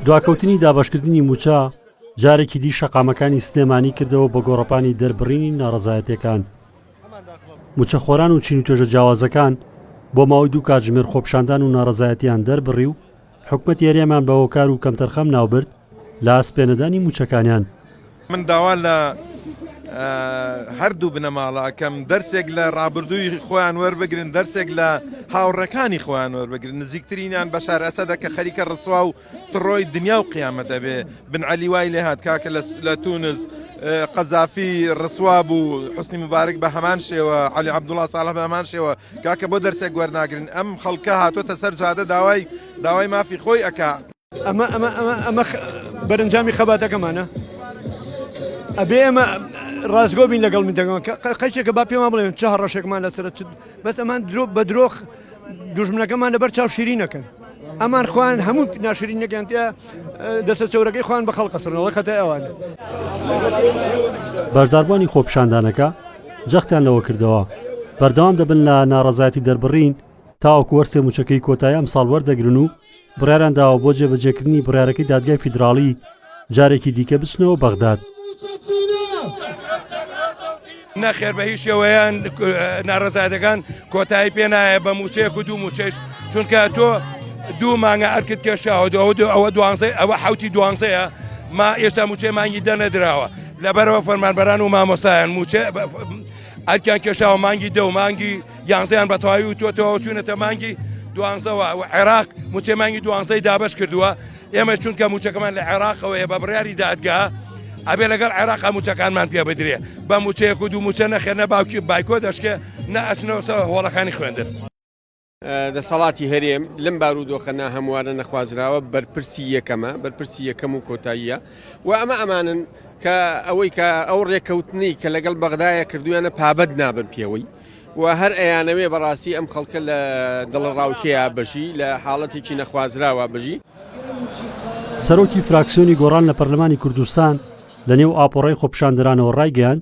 دواکەوتنی دابەشکردنی موچە جارێکی دی شەقامەکانی سلێمانی کردەوە بە گۆڕەپانی دەربڕینی ناڕزایەتەکان موچەخۆران و چین و توێژە جیاوازەکان بۆ ماوەی دوو کاتژمێر خۆپشاندان و ناڕزایەتیان دەربڕی و حکومەت یاریامان بە هۆکار و کەمتەرخەم ناوبرد لە ئەسپ پێنەدانی مووچەکانیان. من داوا لە هەردوو بنەماڵە ئەکەم دەرسێک لە ڕابردووی خۆیان وەربگرن دەرسێک لە هاوڕەکانی خۆیان وەربگرن نزیکترینیان بەشار ئەسەدە کە خەریکە ڕسوا و تڕۆی دنیا و قیامەت ئەبێ بن عەلی وای لێ هات کاکە لە تونس قەزافی ڕسوا بوو حسنی مبارک بە هەمان شێوە علی عبدوڵا ساڵە بە هەمان شێوە کاکە بۆ دەرسێک وەرناگرن ئەم خەڵکە هاتۆتە سەر جادە داوای داوای مافی خۆی ئەک ئەمە ئەمە ئەمە ئەمە بەرەنجامی خەباتەکەمانە ئەبێ ئەمە ڕاستگۆ بین لەگەڵ من دەگەن قەچێکە با پێما بڵێن چه ڕەشێکمان لەسەر چ بەس ئەمان درۆ بە درۆخ دوژمنەکەمان لەبەر چاو شیری نەکەن ئەمان خوان هەموو ناشرین نەکەن تیا دەسە چەورەکەی خوان بە خەڵکە سڕەوە خەتە ئەوانە بەشداربووانی خۆپشاندانەکە جەختیان لەوە کردەوە بەردەوام دەبن لە ناڕزایەتی دەربڕین تاوەکو وەرسێ موچەکەی کۆتایی ئەم ساڵ وەردەگرن و بڕیاریان داوە بۆ جێبەجێکردنی بڕیارەکەی دادگای فیدراڵی جارێکی دیکە بچنەوە بەغداد. نەخێر بە هیچ شێوەیان ناڕزایەتەکان کۆتایی پێ نایە بە موچەیەک و دوو موچەش چونکە تۆ دوو مانگە ئەرکت کێشاوە دو دو ئەوە دوانزەی ئەوە حوتی دوانزەیە ما ئێستا موچەی مانگی دەنەدراوە لەبەرەوە فەرمانبەران و مامۆسایان موچە ئەرکیان کێشاوە مانگی دە و مانگی یانزەیان بەتەواوی وتوەتەوە چوونەتە مانگی دوانزەوە و عێراق موچەی مانگی دوانزەی دابش کردووە ئێمە چونکە موچەکەمان لە عێراقەوەیە بە بڕیاری دادگا ئەبێ لەگەڵ عێراق موچەکانمان پێ بدرێ بە موچەیەک و دوو موچە نەخێنە باوکی بایکۆ دەشکێ نە ئەچنەوەسە هۆڵەکانی خوێندن. دەسەڵاتی هەرێم لەم بارودۆخە ناهەموارە نەخوازراوە بەرپرسی یەکەمە بەرپرسی یەکەم و کۆتاییە و ئەمە ئەمانن کە ئەوەی کە ئەو ڕێککەوتنی کە لەگەڵ بەغدایە کردویانە پابەت نابن پێوەی و هەر ئەیانەوێ بەڕاستی ئەم خەڵکە لە دڵڕاوکەیە بژی لە حاڵەتێکی نەخوازراوە بژی. سەرۆکی فراکسیۆنی گۆڕان لە پەرلەمانی کوردستان لەنێو ئاپۆڕای خۆپیشاندەرانەوە ڕایگەیاند،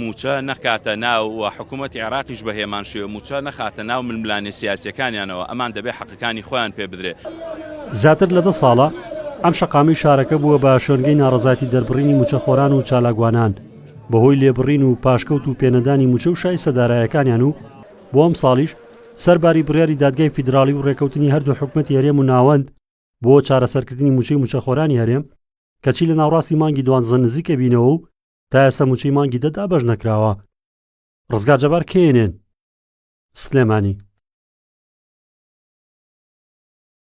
مووچە نەکاتە ناو و حکوومەتی عێراقیش بە هێمان شێوە مووچە نەخاتە ناو ململانێ سیاسییەکانیانەوە، ئەمان دەبێ حەقەکانی خۆیان پێ بدرێ. زیاتر لە دە ساڵە ئەم شەقامەی شارەکە بووە بە شوێنگەی ناڕەزایەتی دەربڕینی مووچەخۆران و چالاکوانان بەهۆی لێبڕین و پاشکەوت و پێنەدانی مووچە و شایستە دارایەکانیان و بۆ ئەمساڵیش سەرباری بڕیاری دادگای فیدراڵی و ڕێکەوتنی هەردوو حکومەتی هەرێم و ناوەند بۆ چارەسەرکردنی مووچەی مووچەخۆرانی هەرێم کەچی لە ناوڕاستی مانگی دوانزە نزیکەبینەوە و تا ئێستا موچەی مانگی دە دابەش نەکراوە ڕزگار جەبار کێنێن سلێمانی